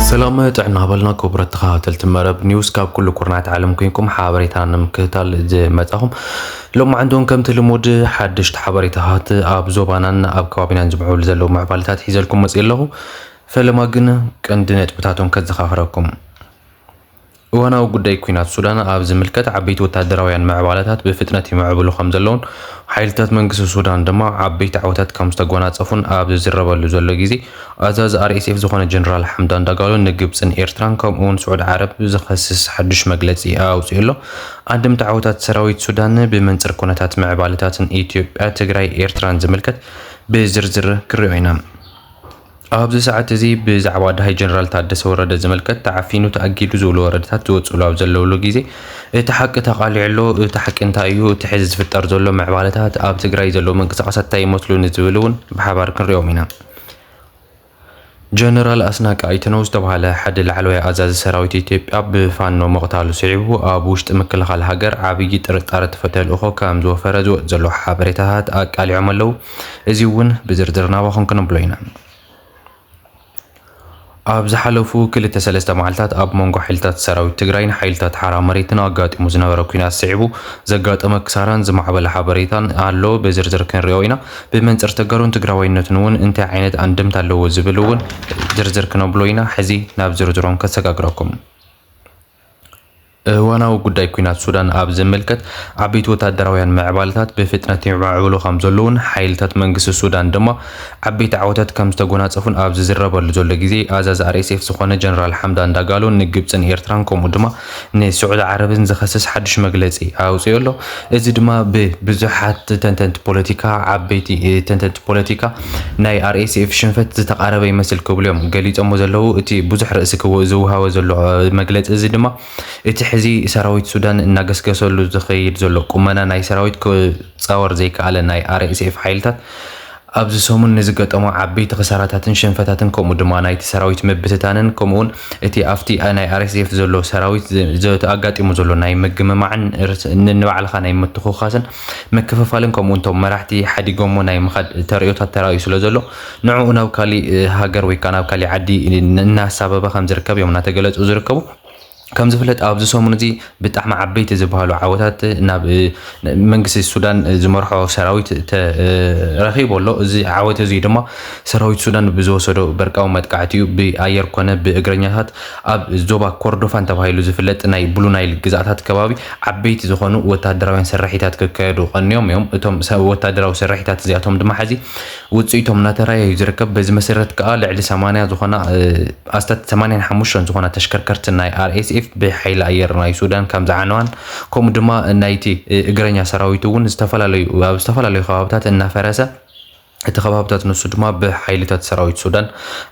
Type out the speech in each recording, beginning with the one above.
ሰላም ጥዕና በልና ክቡራት ተኸታተልቲ መረብ ኒውስ ካብ ኩሉ ኩርናት ዓለም ኮንኩም ሓበሬታ ንምክትታል ዝመጻኹም ሎም ዓንዶን ከምቲ ልሙድ ሓደሽቲ ሓበሬታታት ኣብ ዞባናን ኣብ ከባቢናን ዝምዕብሉ ዘለዉ ምዕባለታት ሒዘልኩም መጽእ ኣለኹ ፈለማ ግን ቀንዲ ነጥብታቶም ከዘኻኽረኩም እዋናዊ ጉዳይ ኲናት ሱዳን ኣብ ዝምልከት ዓበይቲ ወታደራውያን ምዕባለታት ብፍጥነት ይምዕብሉ ከምዘለውን ሓይልታት መንግስቲ ሱዳን ድማ ዓበይቲ ዓወታት ከም ዝተጎናጸፉን ኣብ ዝዝረበሉ ዘሎ ግዜ ኣዛዚ RSF ዝኾነ ጀነራል ሓምዳን ዳጋሎ ንግብጽን ኤርትራን ከምኡውን ስዑድ ዓረብ ዝኸስስ ሓዱሽ መግለጺ ኣውጺኡ ኣሎ። ኣንድምታ ዓወታት ሰራዊት ሱዳን ብመንጽር ኩነታት ምዕባለታትን ኢትዮጵያ፣ ትግራይ፣ ኤርትራን ዝምልከት ብዝርዝር ክንሪኦ ኢና። ኣብዚ ሰዓት እዚ ብዛዕባ ዳሃይ ጀነራል ታደሰ ወረደ ዝምልከት ተዓፊኑ ተኣጊዱ ዝብሉ ወረደታት ዝወፅሉ ኣብ ዘለውሉ ግዜ እቲ ሓቂ ተቃሊዑ ኣሎ። እቲ ሓቂ እንታይ እዩ? እቲ ሕዚ ዝፍጠር ዘሎ ምዕባለታት፣ ኣብ ትግራይ ዘለዉ ምንቅስቃሳት እንታይ ይመስሉ ንዝብል እውን ብሓባር ክንሪኦም ኢና። ጀነራል ኣስናቀ ኣይተነው ዝተብሃለ ሓደ ላዕለዋይ ኣዛዚ ሰራዊት ኢትዮጵያ ብፋኖ ምቕታሉ ስዒቡ ኣብ ውሽጢ ምክልኻል ሃገር ዓብዪ ጥርጣረ ተፈተልእኾ ከም ዝወፈረ ዝወፅ ዘሎ ሓበሬታታት ኣቃሊዖም ኣለዉ። እዚ እውን ብዝርዝር ናባኹም ክነብሎ ኢና። ኣብ ዝሓለፉ ክልተ ሰለስተ መዓልታት ኣብ መንጎ ሓይልታት ሰራዊት ትግራይን ሓይልታት ሓራ መሬትን ኣጋጢሙ ዝነበረ ኩናት ስዒቡ ዘጋጠመ ክሳራን ዝማዕበለ ሓበሬታን ኣሎ ብዝርዝር ክንሪኦ ኢና። ብመንፅር ተጋሩን ትግራዋይነትን እውን እንታይ ዓይነት ኣንድምታ ኣለዎ ዝብል እውን ዝርዝር ክነብሎ ኢና። ሕዚ ናብ ዝርዝሮም ከሰጋግረኩም። እዋናዊ ጉዳይ ኲናት ሱዳን ኣብ ዝምልከት፣ ዓበይቲ ወተሃደራውያን ምዕባለታት ብፍጥነት ይማዕብሉ ከም ዘለዉን ሓይልታት መንግስቲ ሱዳን ድማ ዓበይቲ ዓወታት ከም ዝተጎናጸፉን ኣብ ዝዝረበሉ ዘሎ ግዜ፣ ኣዛዚ RSF ዝዀነ ጀነራል ሓምዳን ዳጋሎ ንግብጽን ኤርትራን ከምኡ ድማ ንስዑዲ ዓረብን ዝኸስስ ሓድሽ መግለጺ ኣውጺኡ ኣሎ። እዚ ድማ ብብዙሓት ተንተንቲ ፖለቲካ፣ ዓበይቲ ተንተንቲ ፖለቲካ ናይ RSF ሽንፈት ዝተቓረበ ይመስል ክብሉ እዮም ገሊጾሞ ዘለዉ። እቲ ብዙሕ ርእሲ ክው ዝወሃቦ ዘሎ መግለጺ እዚ ድማ እቲ ሕዚ ሰራዊት ሱዳን እናገስገሰሉ ዝኸይድ ዘሎ ቁመና ናይ ሰራዊት ክጻወር ዘይከኣለ ናይ RSF ሓይልታት ኣብዚ ሰሙን ንዝገጠሞ ዓበይቲ ክሳራታትን ሽንፈታትን ከምኡ ድማ ናይቲ ሰራዊት ምብትታንን ከምኡ ውን እቲ ኣብቲ ናይ RSF ዘሎ ሰራዊት ኣጋጢሙ ዘሎ ናይ ምግምማዕን ንንባዕልኻ ናይ ምትኹዃስን ምክፍፋልን ከምኡ ውን እቶም መራሕቲ ሓዲጎሞ ናይ ምኻድ ተርእዮታት ተራእዩ ስለ ዘሎ ንዕኡ ናብ ካሊእ ሃገር ወይ ከኣ ናብ ካሊእ ዓዲ እናሳበበ ከም ዝርከብ እዮም እናተገለጹ ዝርከቡ። ከም ዝፍለጥ ኣብዚ ሰሙን እዚ ብጣዕሚ ዓበይቲ ዝበሃሉ ዓወታት ናብ መንግስቲ ሱዳን ዝመርሖ ሰራዊት ተረኺቡ ኣሎ። እዚ ዓወት እዚ ድማ ሰራዊት ሱዳን ብዝወሰዶ በርቃዊ መጥቃዕቲ እዩ ብኣየር ኮነ ብእግረኛታት ኣብ ዞባ ኮርዶፋን ተባሂሉ ዝፍለጥ ናይ ብሉ ናይል ግዛኣታት ከባቢ ዓበይቲ ዝኾኑ ወተሃደራውያን ስርሒታት ክካየዱ ቀንዮም እዮም። እቶም ወተሃደራዊ ስርሒታት እዚኣቶም ድማ ሕዚ ውጽኢቶም እናተራእየ እዩ ዝርከብ። በዚ መሰረት ከኣ ልዕሊ ሰማንያ ዝኾና ኣስታት ሰማንያን ሓሙሽተን ዝኾና ተሽከርከርቲ ናይ RSF ብሓይሊ ኣየር ናይ ሱዳን ከም ዝዓነዋን ከምኡ ድማ ናይቲ እግረኛ ሰራዊት እውን ዝተፈላለዩ ኣብ ዝተፈላለዩ ከባብታት እናፈረሰ እቲ ከባብታት ንሱ ድማ ብሓይልታት ሰራዊት ሱዳን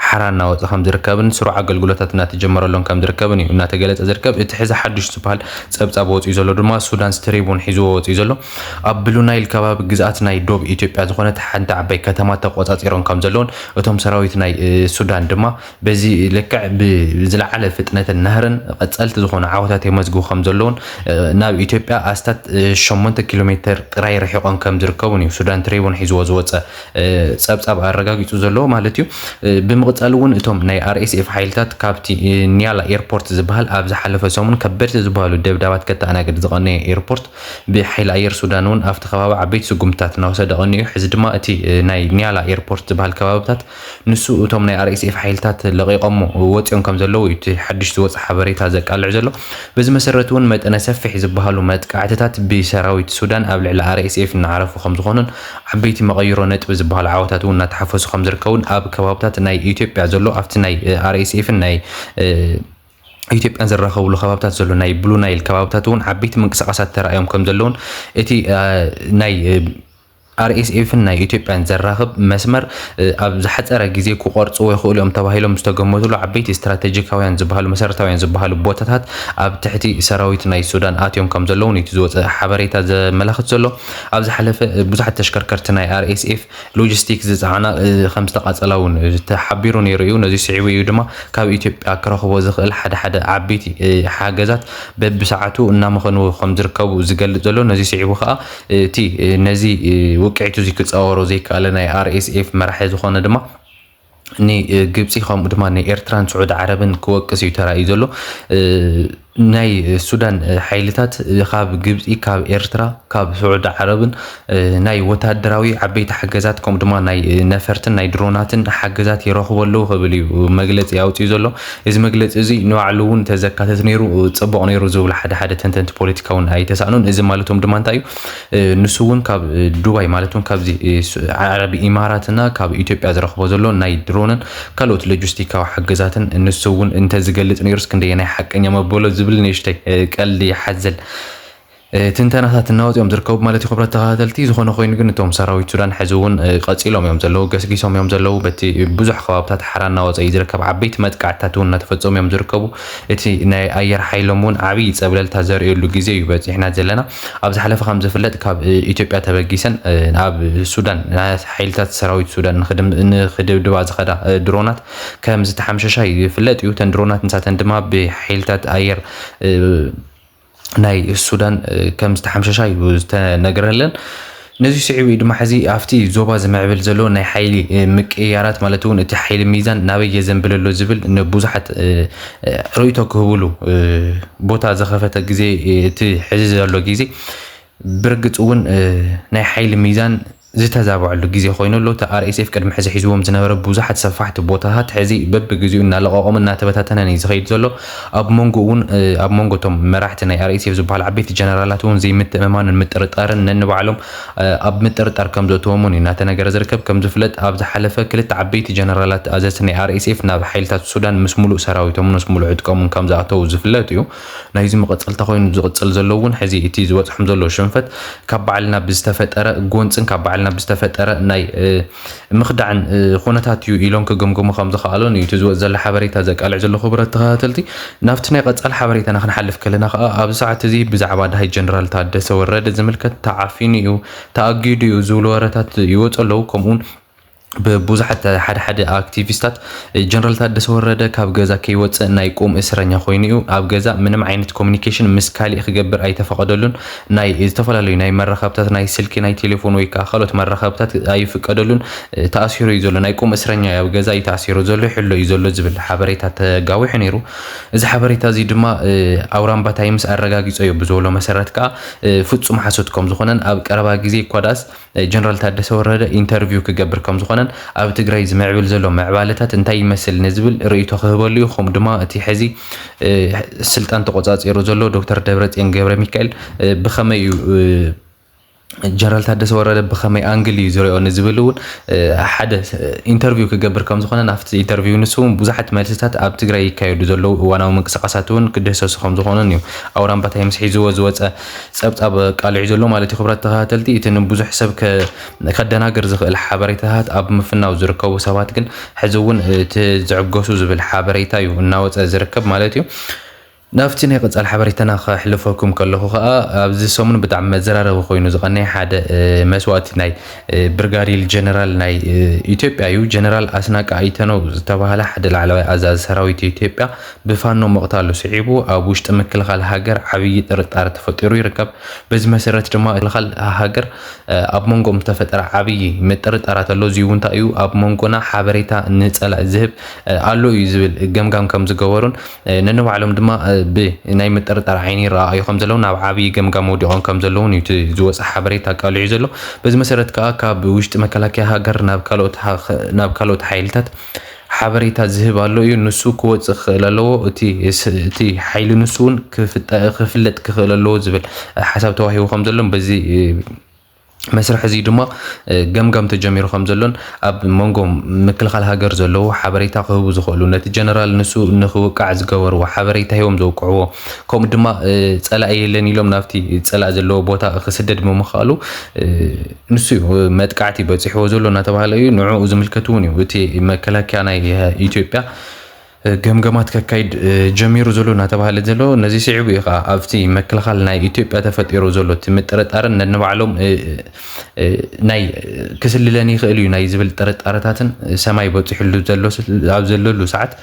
ሓራ እናወፀ ከም ዝርከብን ስሩዕ ኣገልግሎታት እናተጀመረሎን ከም ዝርከብን እዩ እናተገለፀ ዝርከብ እቲ ሕዚ ሓዱሽ ዝበሃል ፀብፃብ ወፂኡ ዘሎ ድማ ሱዳንስ ትሪቡን ሒዝዎ ወፂኡ ዘሎ ኣብ ብሉ ናይል ከባቢ ግዝኣት ናይ ዶብ ኢትዮጵያ ዝኾነት ሓንቲ ዓባይ ከተማ ተቖጻጺሮም ከም ዘለዉን እቶም ሰራዊት ናይ ሱዳን ድማ በዚ ልክዕ ብዝለዓለ ፍጥነትን ናህርን ቐጸልቲ ዝኾኑ ዓወታት የመዝግቡ ከም ዘለዉን ናብ ኢትዮጵያ ኣስታት ሸሞንተ ኪሎ ሜተር ጥራይ ርሒቖም ከም ዝርከቡን እዩ ሱዳን ትሪቡን ሒዝዎ ዝወጸ ጸብጻብ ኣረጋጊጹ ዘለዎ ማለት እዩ ብምቕጻል እውን እቶም ናይ RSF ሓይልታት ካብቲ ኒያላ ኤርፖርት ዝበሃል ኣብ ዝሓለፈ ሰሙን ከበድቲ ዝበሃሉ ደብዳባት ከተኣናግድ ዝቐነየ ኤርፖርት ብሓይሊ ኣየር ሱዳን እውን ኣብቲ ከባቢ ዓበይቲ ስጉምትታት እናወሰደ ቀኒዩ። ሕዚ ድማ እቲ ናይ ኒያላ ኤርፖርት ዝበሃል ከባብታት ንሱ እቶም ናይ RSF ሓይልታት ለቒቖሞ ወጺኦም ከምዘለዉ እዩ እቲ ሓድሽ ዝወጸ ሓበሬታ ዘቃልዕ ዘሎ። በዚ መሰረት እውን መጠነ ሰፊሕ ዝበሃሉ መጥቃዕትታት ብሰራዊት ሱዳን ኣብ ልዕሊ RSF እናዓረፉ ከምዝኾኑን ዓበይቲ መቐይሮ ነጥቢ ዝበሃሉ ዓወታት እውን እናተሓፈሱ ከምዝርከቡን ኣብ ከባብታት ናይ ኢትዮጵያ ዘሎ ኣብቲ ናይ RSF ን ናይ ኢትዮጵያን ዝራኸብሉ ከባብታት ዘሎ ናይ ብሉ ናይል ከባብታት እውን ዓበይቲ ምንቅስቓሳት ተራእዮም ከም ዘለውን እቲ ናይ ኣርኤስኤፍን ናይ ኢትዮጵያን ዘራኽብ መስመር ኣብ ዝሓፀረ ግዜ ክቆርፅዎ ይኽእሉ እዮም ተባሂሎም ዝተገመቱሉ ዓበይቲ ስትራቴጂካውያን ዝበሃሉ መሰረታውያን ዝበሃሉ ቦታታት ኣብ ትሕቲ ሰራዊት ናይ ሱዳን ኣትዮም ከም ዘለውን እቲ ዝወፀ ሓበሬታ ዘመላኽት ዘሎ ኣብ ዝሓለፈ ብዙሓት ተሽከርከርቲ ናይ ኣርኤስኤፍ ሎጂስቲክ ዝፀዓና ከምዝተቓፀላ እውን ተሓቢሩ ነይሩ እዩ። ነዚ ስዒቡ እዩ ድማ ካብ ኢትዮጵያ ክረኽቦ ዝኽእል ሓደ ሓደ ዓበይቲ ሓገዛት በብሰዓቱ እናመኸንዎ ከምዝርከቡ ዝገልፅ ዘሎ። ነዚ ስዒቡ ከዓ እቲ ነዚ ውቅዒት እዚ ክፃወሮ ዘይከኣለ ናይ RSF መራሒ ዝኾነ ድማ ንግብፂ ከምኡ ድማ ንኤርትራን ስዑድ ዓረብን ክወቅስ እዩ ተራእዩ ዘሎ ናይ ሱዳን ሓይልታት ካብ ግብፂ ካብ ኤርትራ ካብ ስዑድ ዓረብን ናይ ወታደራዊ ዓበይቲ ሓገዛት ከምኡ ድማ ናይ ነፈርትን ናይ ድሮናትን ሓገዛት ይረኽቡ ኣለዉ ክብል እዩ መግለፂ ኣውፅኡ ዘሎ እዚ መግለፂ እዚ ንባዕሉ እውን ተዘካተት ነይሩ ፅቡቕ ነይሩ ዝብሉ ሓደ ሓደ ተንተንቲ ፖለቲካ እውን ኣይተሳእኑን እዚ ማለቶም ድማ እንታይ እዩ ንሱ እውን ካብ ዱባይ ማለት እውን ካብዚ ዓረብ ኢማራትና ካብ ኢትዮጵያ ዝረኽቦ ዘሎ ናይ ድሮንን ካልኦት ሎጂስቲካዊ ሓገዛትን ንሱ እውን እንተዝገልፅ ነይሩስ ክንደየናይ ሓቀኛ መበሎ ዝብል ንእሽተይ ቀልዲ ሓዘል ትንተናታት እናወፅ እዮም ዝርከቡ ማለት እዩ ክብረት ተኸታተልቲ ዝኾነ ኮይኑ ግን እቶም ሰራዊት ሱዳን ሕዚ እውን ቀፂሎም እዮም ዘለዉ ገስጊሶም እዮም ዘለዉ በቲ ብዙሕ ከባብታት ሓራ እናወፀ እዩ ዝርከብ ዓበይቲ መጥቃዕትታት እውን እናተፈፀሙ እዮም ዝርከቡ እቲ ናይ ኣየር ሓይሎም እውን ዓብዪ ፀብለልታ ዘርእየሉ ግዜ እዩ በፂሕና ዘለና ኣብ ዝሓለፈ ከም ዝፍለጥ ካብ ኢትዮጵያ ተበጊሰን ኣብ ሱዳን ሓይልታት ሰራዊት ሱዳን ንክድብድባ ዝኸዳ ድሮናት ከም ዝተሓምሸሻ ይፍለጥ እዩ። እተን ድሮናት ንሳተን ድማ ብሓይልታት ኣየር ናይ ሱዳን ከም ዝተሓምሸሻ እዩ ዝተነገረለን። ነዚ ስዒቡ እዩ ድማ ሕዚ ኣብቲ ዞባ ዝምዕብል ዘሎ ናይ ሓይሊ ምቅይያራት ማለት እውን እቲ ሓይሊ ሚዛን ናበይ የዘንብል ኣሎ ዝብል ንብዙሓት ርእይቶ ክህብሉ ቦታ ዘኸፈተ ግዜ እቲ ሕዚ ዘሎ ግዜ ብርግፅ እውን ናይ ሓይሊ ሚዛን ዝተዛበዐሉ ግዜ ኮይኑ ኣሎ እቲ ኣርኤስኤፍ ቅድሚ ሕዚ ሒዝዎም ዝነበረ ብዙሓት ሰፋሕቲ ቦታታት ሕዚ በብግዜኡ እናለቐቖም እናተበታተነን እዩ ዝኸይድ ዘሎ ኣብ መንጎኡ'ውን ኣብ መንጎ እቶም መራሕቲ ናይ RSF ዝበሃሉ ዓበይቲ ጀነራላት'ውን ዘይምትእምማንን ምጥርጣርን ነንባዕሎም ኣብ ምጥርጣር ከምዘእተዎም'ውን እዩ እናተነገረ ዝርከብ። ከምዝፍለጥ ኣብ ዝሓለፈ ክልተ ዓበይቲ ጀነራላት ኣዘዝቲ ናይ RSF ናብ ሓይልታት ሱዳን ምስ ሙሉእ ሰራዊቶምን ምስ ሙሉእ ዕጥቆምን ከምዝኣተዉ ዝፍለጥ እዩ። ናይዚ መቐጸልታ ኮይኑ ዝቕጽል ዘሎ'ውን ሕዚ እቲ ዝበጽሖም ዘሎ ሽንፈት ካብ ባዕልና ብዝተፈጠረ ጎንጽን ካብ ባዕልና ብዝተፈጠረ ናይ ምኽዳዕን ኹነታት እዩ ኢሎም ክግምግሙ ከም ዝኸኣሉን እዩ እቲ ዝወፅ ዘሎ ሓበሬታ ዘቃልዕ ዘሎ ክቡራት ተኸታተልቲ። ናብቲ ናይ ቐፃሊ ሓበሬታና ክንሓልፍ ከለና ከዓ ኣብዚ ሰዓት እዚ ብዛዕባ ደሃይ ጀነራል ታደሰ ወረደ ዝምልከት ተዓፊኑ እዩ፣ ተኣጊዱ እዩ ዝብሉ ወረታት ይወፁ ኣለው ከምኡውን ብቡዙሓት ሓደ ሓደ ኣክቲቪስታት ጀነራል ታደሰ ወረደ ካብ ገዛ ከይወፅእ ናይ ቁም እስረኛ ኾይኑ እዩ፣ ኣብ ገዛ ምንም ዓይነት ኮሚኒኬሽን ምስ ካሊእ ክገብር ኣይተፈቐደሉን ናይ ዝተፈላለዩ ናይ መራኸብታት ናይ ስልኪ ናይ ቴሌፎን ወይ ከዓ ካልኦት መራኸብታት ኣይፍቀደሉን ተኣሲሩ እዩ ዘሎ ናይ ቁም እስረኛ ኣብ ገዛ እዩ ተኣሲሩ ዘሎ ይሕሎ እዩ ዘሎ ዝብል ሓበሬታ ተጋዊሑ ነይሩ እዚ ሓበሬታ እዚ ድማ ኣውራምባ ታይምስ ኣረጋጊፆ እዩ ብዝበሎ መሰረት ከዓ ፍፁም ሓሶት ከም ዝኾነን ኣብ ቀረባ ግዜ እኳ ዳኣስ ጀነራል ታደሰ ወረደ ኢንተርቪው ክገብር ከምዝኾነን ኣብ ትግራይ ዝምዕብል ዘሎ ምዕባለታት እንታይ ይመስል ንዝብል ርእይቶ ክህበሉ እዩ ከምኡ ድማ እቲ ሕዚ ስልጣን ተቆፃፂሩ ዘሎ ዶክተር ደብረፅዮን ገብረ ሚካኤል ብኸመይ እዩ ጀነራል ታደሰ ወረደ ብኸመይ ኣንግል እዩ ዝሪኦ ንዝብል እውን ሓደ ኢንተርቪው ክገብር ከም ዝኾነ ናብቲ ኢንተርቪው ንሱ እውን ብዙሓት መልስታት ኣብ ትግራይ ይካየዱ ዘለዉ እዋናዊ ምንቅስቃሳት እውን ክድህሰሱ ከም ዝኾኑን እዩ ኣውራምባታይ ምስ ሒዝዎ ዝወፀ ጸብጻብ ኣቃሊዑ ዘሎ ማለት እዩ። ክብራት ተኸታተልቲ እቲ ንብዙሕ ሰብ ከደናግር ዝኽእል ሓበሬታታት ኣብ ምፍናው ዝርከቡ ሰባት ግን ሕዚ እውን እቲ ዝዕገሱ ዝብል ሓበሬታ እዩ እናወጸ ዝርከብ ማለት እዩ። ናብቲ ናይ ቀጻሊ ሓበሬታና ከሕልፈኩም ከለኹ ከኣ ኣብዚ ሰሙን ብጣዕሚ መዘራረቢ ኮይኑ ዝቐነየ ሓደ መስዋእቲ ናይ ብርጋዴር ጀነራል ናይ ኢትዮጵያ እዩ። ጀነራል ኣስናቀ ኣይተነው ዝተባህለ ሓደ ላዕለዋይ ኣዛዚ ሰራዊት ኢትዮጵያ ብፋኖ ምቕታሉ ስዒቡ ኣብ ውሽጢ ምክልኻል ሃገር ዓብዪ ጥርጣረ ተፈጢሩ ይርከብ። በዚ መሰረት ድማ እቲ ምክልኻል ሃገር ኣብ መንጎኦም ዝተፈጠረ ዓብዪ ምጥርጣራት ኣሎ። እዙይ እውን እንታይ እዩ ኣብ መንጎና ሓበሬታ ንፀላኢ ዝህብ ኣሎ እዩ ዝብል ገምጋም ከም ዝገበሩን ነንባዕሎም ድማ ብናይ ምጥርጣር ዓይኒ ይረኣኣዩ ከም ዘለውን ናብ ዓብዪ ገምጋም ወዲቖም ከም ዘለውን እዩ እቲ ዝወፀ ሓበሬታ ኣቃሊዑ ዘሎ። በዚ መሰረት ከዓ ካብ ውሽጢ መከላከያ ሃገር ናብ ካልኦት ናብ ካልኦት ሓይልታት ሓበሬታ ዝህብ ኣሎ እዩ ንሱ ክወፅእ ክኽእል ኣለዎ እቲ እቲ ሓይሊ ንሱ እውን ክፍለጥ ክኽእል ኣለዎ ዝብል ሓሳብ ተዋሂቡ ከም ዘሎን በዚ መስርሕ እዚ ድማ ገምጋም ተጀሚሩ ከም ዘሎን ኣብ መንጎ ምክልኻል ሃገር ዘለዉ ሓበሬታ ክህቡ ዝኽእሉ ነቲ ጀነራል ንሱ ንክውቃዕ ዝገበርዎ ሓበሬታ ሂቦም ዘውቅዕዎ ከምኡ ድማ ፀላኢ የለን ኢሎም ናብቲ ፀላእ ዘለዎ ቦታ ክስደድ ብምኽኣሉ ንሱ እዩ መጥቃዕቲ በፂሕዎ ዘሎ እናተባህለ እዩ። ንዕኡ ዝምልከት እውን እዩ እቲ መከላከያ ናይ ኢትዮጵያ ገምገማት ከካይድ ጀሚሩ ዘሎ እናተባህለ ዘሎ። ነዚ ስዒቡ እዩ ከዓ ኣብቲ መክልኻል ናይ ኢትዮጵያ ተፈጢሩ ዘሎ እቲ ምጥርጣርን ነንባዕሎም ናይ ክስልለን ይኽእል እዩ ናይ ዝብል ጥርጣረታትን ሰማይ በፂሕሉ ዘሎ ኣብ ዘለሉ ሰዓት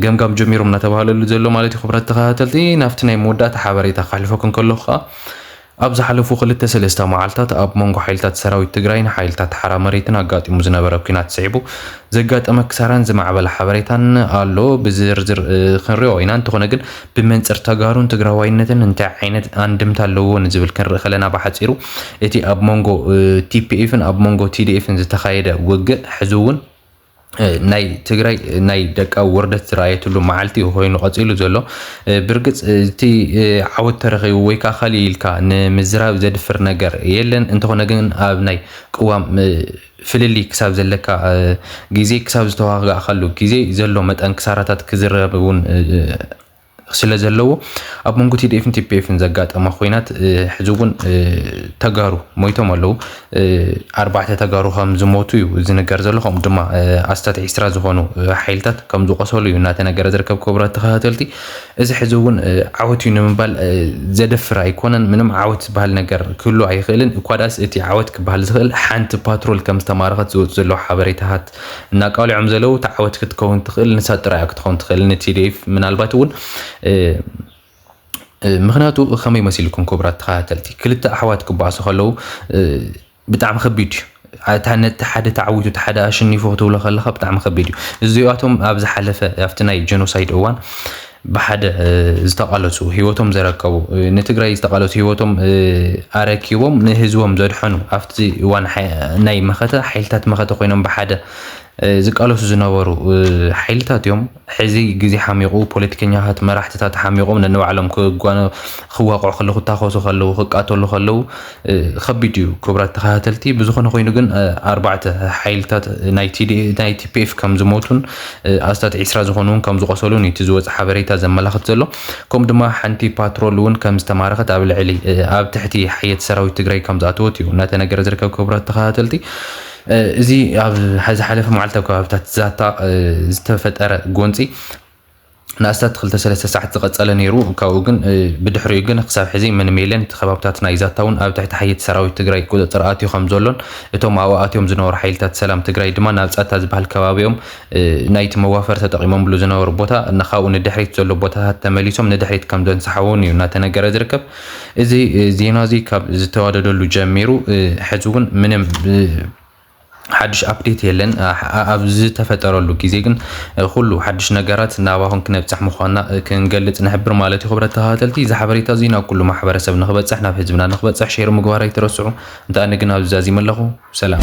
ገምጋም ጀሚሮም እናተባህለሉ ዘሎ ማለት እዩ። ክብረት ተኸታተልቲ ናብቲ ናይ መወዳእታ ሓበሬታ ካሕልፈኩም ከለኹ ከዓ ኣብ ዝሓለፉ ክልተ ሰለስተ መዓልታት ኣብ መንጎ ሓይልታት ሰራዊት ትግራይን ሓይልታት ሓራ መሬትን ኣጋጢሙ ዝነበረ ኲናት ስዒቡ ዘጋጠመ ክሳራን ዝማዕበለ ሓበሬታን ኣሎ። ብዝርዝር ክንሪኦ ኢና። እንተኾነ ግን ብመንፅር ተጋሩን ትግራዋይነትን እንታይ ዓይነት ኣንድምታ ኣለዎ ንዝብል ክንርኢ ከለና ብሓፂሩ እቲ ኣብ መንጎ ቲፒኤፍን ኣብ መንጎ ቲዲኤፍን ዝተኻየደ ውግእ ሕዚ እውን ናይ ትግራይ ናይ ደቃዊ ውርደት ዝረኣየትሉ መዓልቲ እዩ ኮይኑ ቀፂሉ ዘሎ ብርግፅ እቲ ዓወት ተረኺቡ ወይ ከዓ ካልእ ኢልካ ንምዝራብ ዘድፍር ነገር የለን እንተኾነ ግን ኣብ ናይ ቅዋም ፍልሊ ክሳብ ዘለካ ግዜ ክሳብ ዝተዋጋእካሉ ግዜ ዘሎ መጠን ክሳራታት ክዝረብ እውን ስለ ዘለዎ ኣብ መንጎ ቲዲኤፍን ቲፒኤፍን ዘጋጠመ ኮይናት ሕዚ እውን ተጋሩ ሞይቶም ኣለዉ ኣርባዕተ ተጋሩ ከም ዝሞቱ እዩ ዝንገር ዘሎ ከምኡ ድማ ኣስታት ዒስራ ዝኾኑ ሓይልታት ከም ዝቆሰሉ እዩ እናተነገረ ዝርከብ ክቡራት ተኸታተልቲ እዚ ሕዚ እውን ዓወት እዩ ንምባል ዘደፍር ኣይኮነን ምንም ዓወት ዝበሃል ነገር ክህሉ ኣይኽእልን እኳ ዳስ እቲ ዓወት ክበሃል ዝኽእል ሓንቲ ፓትሮል ከም ዝተማረኸት ዝወፅ ዘሎ ሓበሬታታት እናቃልዖም ዘለው እቲ ዓወት ክትከውን ትኽእል ንሳ ጥራያ ክትኸውን ትኽእል ንቲዲኤፍ ምናልባት እውን ምክንያቱ ከመይ መሲልኩም ክቡራት ተኸታተልቲ ክልተ ኣሕዋት ክበኣሱ ከለው ብጣዕሚ ከቢድ እዩ እቲ ሓደ ተዓዊቱ እቲ ሓደ ኣሸኒፉ ክትብሎ ከለካ ብጣዕሚ ከቢድ እዩ እዚኣቶም ኣብ ዝሓለፈ ኣብቲ ናይ ጀኖሳይድ እዋን ብሓደ ዝተቓለሱ ህይወቶም ዘረከቡ ንትግራይ ዝተቓለሱ ህይወቶም ኣረኪቦም ንህዝቦም ዘድሐኑ ኣብቲ እዋን ናይ መኸተ ሓይልታት መኸተ ኮይኖም ብሓደ ዝቃለሱ ዝነበሩ ሓይልታት እዮም። ሕዚ ግዜ ሓሚቑ ፖለቲከኛታት መራሕትታት ሓሚቖም ነንባዕሎም ክዋቕዑ ከለዉ ክታኾሱ ከለዉ ክቃተሉ ከለዉ ኸቢድ እዩ ክብራት ተኸታተልቲ ብዝኾነ ኮይኑ ግን ኣርባዕተ ሓይልታት ናይ ቲፒኤፍ ከም ዝሞቱን ኣስታት ዒስራ ዝኾኑ እውን ከም ዝቆሰሉን እቲ ዝወፀ ሓበሬታ ዘመላኽት ዘሎ ከምኡ ድማ ሓንቲ ፓትሮል እውን ከም ዝተማረኸት ኣብ ልዕሊ ኣብ ትሕቲ ሓየት ሰራዊት ትግራይ ከም ዝኣተወት እዩ እናተነገረ ዝርከብ ክብራት ተኸታተልቲ እዚ ኣብ ዝሓለፈ መዓልቲ ኣብ ከባቢታት ዛታ ዝተፈጠረ ጎንፂ ንኣስታት ክልተ ሰለስተ ሰዓት ዝቐጸለ ነይሩ። ካብኡ ግን ብድሕሪኡ ግን ክሳብ ሕዚ ምንም የለን። እቲ ከባብታት ናይ ዛታ እውን ኣብ ትሕቲ ሓየቲ ሰራዊት ትግራይ ቁጽጽር ኣትዩ ከም ዘሎን እቶም ኣብኡ ኣትዮም ዝነበሩ ሓይልታት ሰላም ትግራይ ድማ ናብ ጸታ ዝበሃል ከባቢኦም ናይቲ መዋፈሪ ተጠቒሞምሉ ዝነበሩ ቦታ እና ካብኡ ንድሕሪት ዘሎ ቦታታት ተመሊሶም ንድሕሪት ከም ዘንሰሓውን እዩ እናተነገረ ዝርከብ። እዚ ዜና እዚ ካብ ዝተዋደደሉ ጀሚሩ ሕዚ እውን ምንም ሓድሽ ኣፕዴት የለን። ኣብ ዝተፈጠረሉ ግዜ ግን ኩሉ ሓድሽ ነገራት ናባኹም ክነብጽሕ ምዃንና ክንገልጽ ንሕብር ማለት እዩ። ክብረት ተኸታተልቲ እዚ ሓበሬታ እዚ ናብ ኩሉ ማሕበረሰብ ንክበጽሕ ናብ ህዝብና ንክበጽሕ ሼር ምግባር ኣይትረስዑ። እንተ ኣነ ግን ኣብዚ ዛዚመ ኣለኹ። ሰላም